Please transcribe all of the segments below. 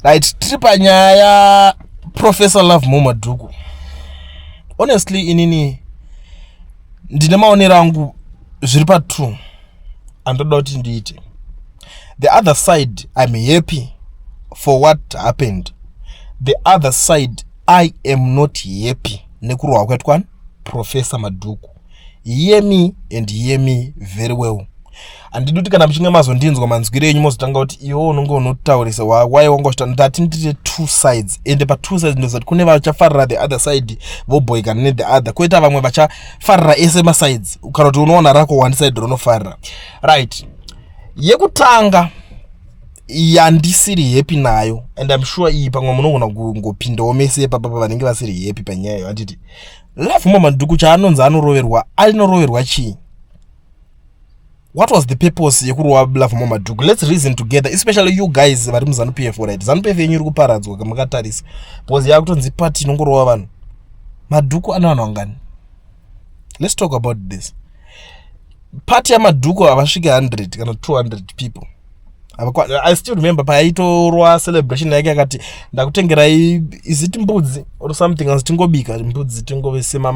right tiri panyaya professor love mo madhuku honestly inini ndine maonero angu zviri patwo andoda kuti ndiite the other side im happy for what happened the other side i am not happy nekurohwa kwetwan professor madhuku hear me and hear me very well handidi kuti kana muchinge mazondinzwa manzwire enyu mozotanga kuti iwe unonge unotaurisa why wanga uchita ndati ndite two sides ende patwo sides ndoziva kuti kune vachafarira the other side voboikana nethe other koita vamwe vachafarira ese masides kana kuti unoona rako one side rinofarira right yekutanga yandisiri happy nayo and im sure iyi pamwe munogona kungopindawo mese ipapa pavanenge vasiri happy panyaya iyo handiti Love mama nduku chaanonzi anoroverwa anoroverwa chii? What was the purpose yekurova Love mama nduku? Let's reason together especially you guys vari muZanu PF right. Zanu PF yenyu iri kuparadzwa mukatarisa. Because yakutonzi party inongorova vanhu. Madhuku ana vanhu vangani? Let's talk about this. pati yamadhuku havasvike 100 kana 200 people i still remember paaitorwa celebration yake akati ndakutengerai iziti mbudzi or something as tingobika mbudzi tingovesema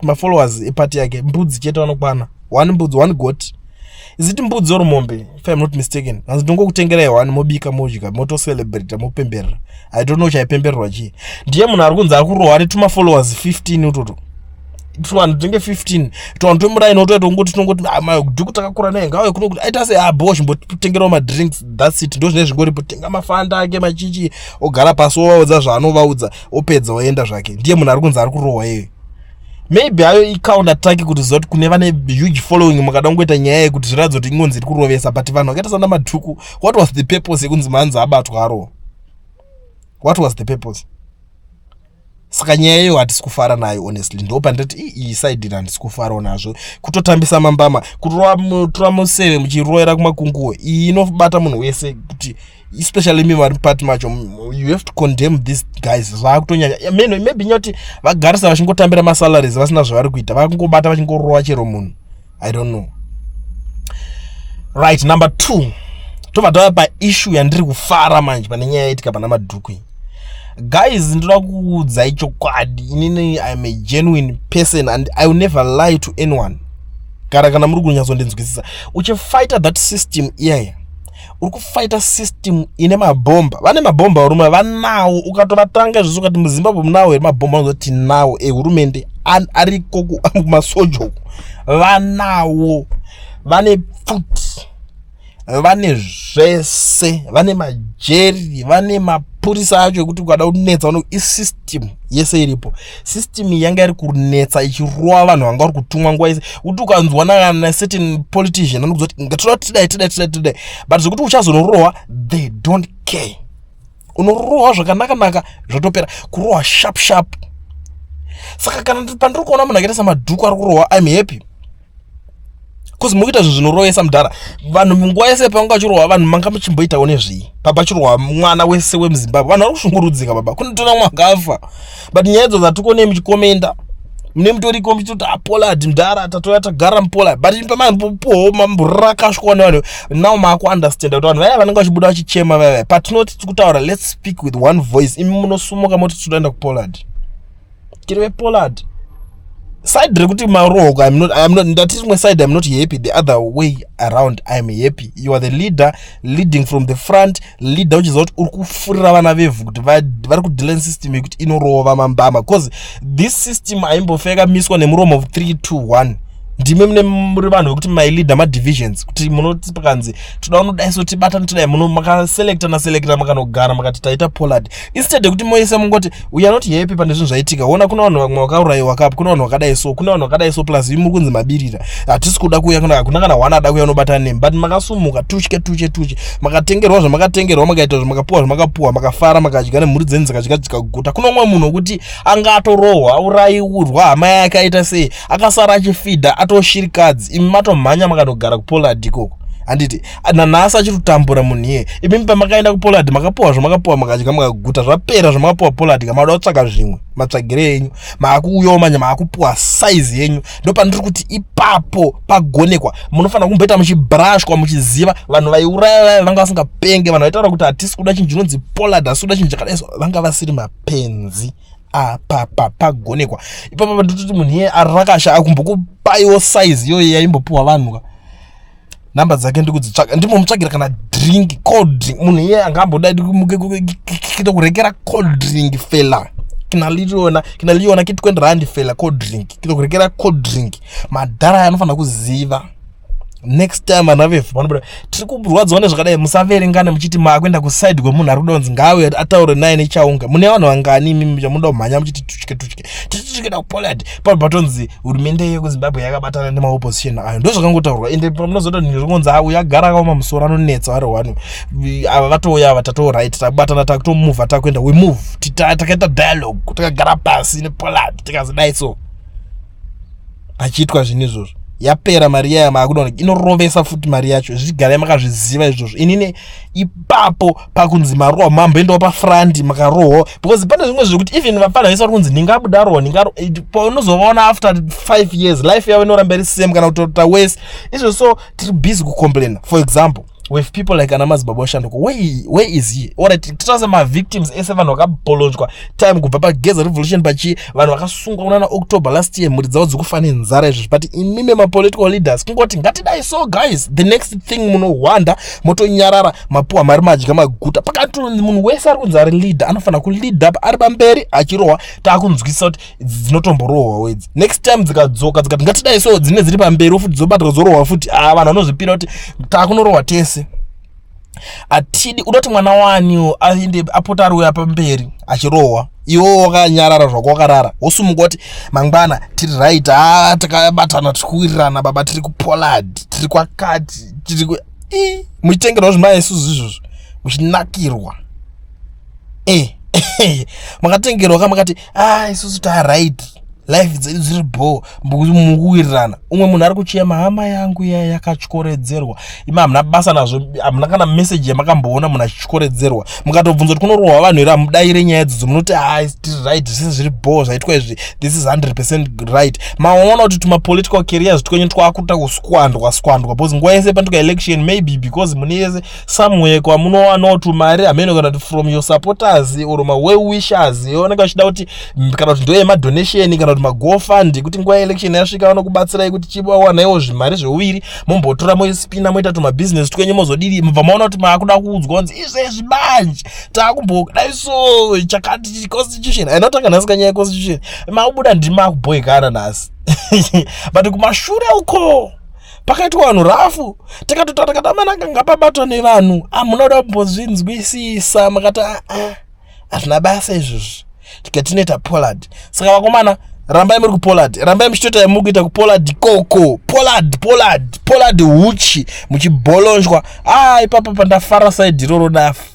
mafollowers epati yake mbudzi chete vanokwana one mbudzi one got iziti mbudzi or mombe if im not mistaken anzi ndongokutengerai one mobika modya motocelebrata mopemberera i don't know chaipembererwa chii ndiye munhu ari kunzi ari kurohwa netumafollowers 15 utoto tuvanhu tinenge 15 tuvanhu twemuraini wotoita kungoti tinongoti amai ah, dhuku takakura naye ngauye kuno kuti aita seabo ah, chimbotengerawo madrinks thats it ndozvinee zvingoripo tenga mafanda ake machichi ogara pasi wovaudza zvaanovaudza opedza oenda zvake ndiye munhu ari kunzi ari kurohwa iyoyo maybe ayo icounter attack kuti zoti kune vane huge following mukada kungoita nyaya yekuti zviratidza kuti ingonzi iri kurovesa but vanhu vakaita sana madhuku what was the purpose yekunzi manzi abatwa arohwa what was the purpose saka nyaya iyo hatisi kufara nayo honestly ndo pandati iyi side handisi kufarawo nazvo kutotambisa mambama kutora museve muchiroera kumakunguwo iyi inobata munhu wese kuti especially mi vari pati macho you have to condemn these guys zvakutonyanya meno maybe nyoti vagarisa vachingotambira masalaries vasina zvavari kuita vakungobata vachingorova chero munhu i don't know right number two tobva tava paissue yandiri kufara manje pane nyaya yaitika pana madhuku iyi guys ndinoda kuudzai chokwadi inini iam a genuine person and i will never lie to anyone gara kana muri kunyatsondinzwisisa uchifighter that system iyaya yeah, yeah. uri kufaita system ine mabhomba vane mabhomba varume vanawo ukatovatanga izvozvo ukati muzimbabwe munawo here mabhomba anoza tinawo ehurumende eh, ariko kumasoja uku vanawo vane pfuti vane zvese vane majeri vane mapurisa acho ekuti ukada kunetsa vano isystem yese iripo system yanga iri kunetsa ichirova vanhu vanga vari kutumwa nguva yese kuti ukanzwa naana certain politician anokuza kuti ngatoda kuti tidai tidai tidai tidai but zvekuti uchazonorohwa they don't care unorohwa zvakanaka naka zvotopera kurohwa sharp sharp saka kana pandiri kuona munhu akaita samadhuku ari kurohwa im happy bcause mukuita zvinhu zvinorovesa mudhara vanhu munguva yese panga vachirohwa vanhu manga muchimboitawo nezvii baba chirohwa mwana wese wemuzimbabwe vanhu vari kushungurudzika baba kunotona mwakafa but nyaya idzo dzatikonei muchikomenda mune mutoriko muchitoti apolad ah, mdhara tatouya tagara mupola but pamapoho mamburakasvikawa nevanhu now maakuunderstanda kuti vanhu vaya vanenge vachibuda vachichema vaya vaya patinoti tikutaura let's speak with one voice imi munosumuka moti tinoenda kupolad tiri vepollard side rekuti marohoko I'm not, I'm not, ndati rimwe side i'm not happy the other way around i'm happy you are the leader leading from the front leader uchiziva kuti uri kufurira vana vevhu kuti vari kudelan system yekuti inorova mambama because this system aimbofeka miswa nemuromo of 3 to 1 ndimi mune muri vanhu vekuti maileader madivisions kuti munoti pakanzi toda unodaiso tibatani todai muno makaselecta naselecta makanogara makati taita pollard instead yekuti moisa mungoti we are not happy pane zvinhu zvaitika ona kuna vanhu vamwe vakaurayiwa kapo kuna vanhu vakadai so kuna vanhu vakadai so plus imi muri kunzi mabirira hatisi kuda kuuya kuna hakuna kana hwana ada kuuya unobatana nemi but makasumuka tuche tuche tuche makatengerwa zvamakatengerwa makaita zvamakapuwa zvamakapuwa makafara makadya nemhuri dzenyu dzakadya dzikaguta kuna umwe munhu wekuti anga atorohwa aurayiurwa hama yake aita sei akasara achifidha atoshirikadzi imi matomhanya makatogara kupollard ikoko handiti nanhasi achiri kutambura munhu iye imimi pamakaenda kupolad makapuwa zvamakapuwa makadya makaguta zvapera zvamakapuwa polad ka maoda kutsvaga zvimwe matsvagire yenyu maakuuyawo manje maakupuwa saizi yenyu ndo pandiri kuti ipapo pagonekwa munofanira kumboita muchibrashwa muchiziva vanhu vaiuraya vaya vanga vasingapenge vanhu vaitaura kuti hatisi kuda chinhu chinonzi polad asi kuda chinhu chakadai so vanga vasiri mapenzi apapa pagonekwa ipapa pandiri kuti munhu iye arakasha akumbokupaiwo saizi iyoyo yaimbopuwa vanhu ka number dzake ndikudzitsvaga ndimomutsvagira kana drink cold drink munhu iye anga amboda kuita kurekera cold drink fela kina liona kina liona kiti kwendi randi fela cold drink kito kurekera cold drink madhara aya anofanira kuziva next time vana vefu vanobuda tiri kurwadziwa nezvakadai musaverengane muchiti makuenda kuside kwemunhu ari kudonzi ngaauye ataure naye nechaunga mune vanhu vangani imimi chamunoda kumhanya muchiti tutye tutye tichisvikira kupoland pano patonzi hurumende yekuzimbabwe yakabatana nemaopposition ayo ndozvakangotaurwa ende pamunozoita nhu zvokunzi a uyo agara akaoma musoro anonetsa ari wani ava vatouya ava tatoo right tabatana takutomuvha takuenda we move takaita dialogue takagara pasi nepoland tikazidai so achiitwa zvinhu izvozvo yapera mari iyaya maakudaona inorovesa futi mari yacho zvichigarai makazviziva izvozvo inini ipapo pakunzi marohwa mamboendawo pafrandi makarohwa because pane zvimwe zvekuti even vapfana vese vari kunzi ndingabuda rohwa ndingaro eh, paunozovaona after five years life yavo inoramba iri same kana kutota wese izvo so tiri busy kucomplaina for example with people like ana madzibaba oshanduka where is he orit titarise mavictims ese vanhu vakabholonjwa time kubva pageza revolution pachii vanhu vakasungwa kunana october last year mhuri dzavo dzikufa nenzara izvozvi but imi memapolitical leaders kungoti ngatidai so guys the next thing munohwanda motonyarara mapuwa mari madya maguta pakati munhu wese ari kunzi ari leader anofanira kulead up ari pamberi achirohwa taakunzwisisa kuti dzinotomborohwa wedzi next time dzikadzoka dzikati ngatidai so dzine dziri pamberi futi dzobatwa dzorohwa futi a ah, vanhu vanozvipira kuti takunorohwa tese atidi unoti mwana waniwo aende apota ari uya pamberi achirohwa iwo wakanyarara zvako wakarara wosumuka kuti mangwana tiri right ha ah, takabatana tiri kuwirirana baba tiri kupolad tiri kwakati tiri muchitengerwa zvimaya isuzu izvozvo muchinakirwa eh, eh, makatengerwa ka makati ah isusu ta right life dzedu dziri bho mukuwirirana umwe munhu ari kuchema hama yangu iya yakatyoredzerwa ima hamuna basa nazvo hamuna kana meseji yamakamboona munhu achityoredzerwa mukatobvunza kuti kunorohwa vanhu here hamudaire nyaya dzodzo munoti ha ah, tiri right zvese zviri bho zvaitwa izvi this is 100 percent right maona kuti tumapolitical carriers twenyu twakuta kuskwandwa skwandwa because nguva yese panduka election maybe because mune yese somewhere kwamunowanawo tumari hameno kana kuti from your supporters or mawell wishers yooneka uchida kuti kana kuti ndoyemadonation kana kuti magofund kuti nguva yeelection yasvika vanokubatsirai kuti chivawanaiwo zvimari zveuviri mombotora moispina moita tumabusiness twenyu mozodiri mubva maona kuti maakuda kuudzwa kunzi izvezvi manje taakumbodai so chakati constitution ainotanga nhasi kanyaya yeconstitution makubuda ndima kubhoikana nhasi but kumashure uko pakaitwa vanhu rafu tikatotaura tikati amanaka ngapabatwa nevanhu amuna ah, kuda kumbozvinzwisisa makati aa ah, ah, hazvina basa izvozvi tikati tinoita polad saka vakomana rambai muri kupolad rambai muchitoita yamuri kuita kupolad koko polad polad polad huchi muchibolonjwa a ipapa pandafara saidi iroro dafa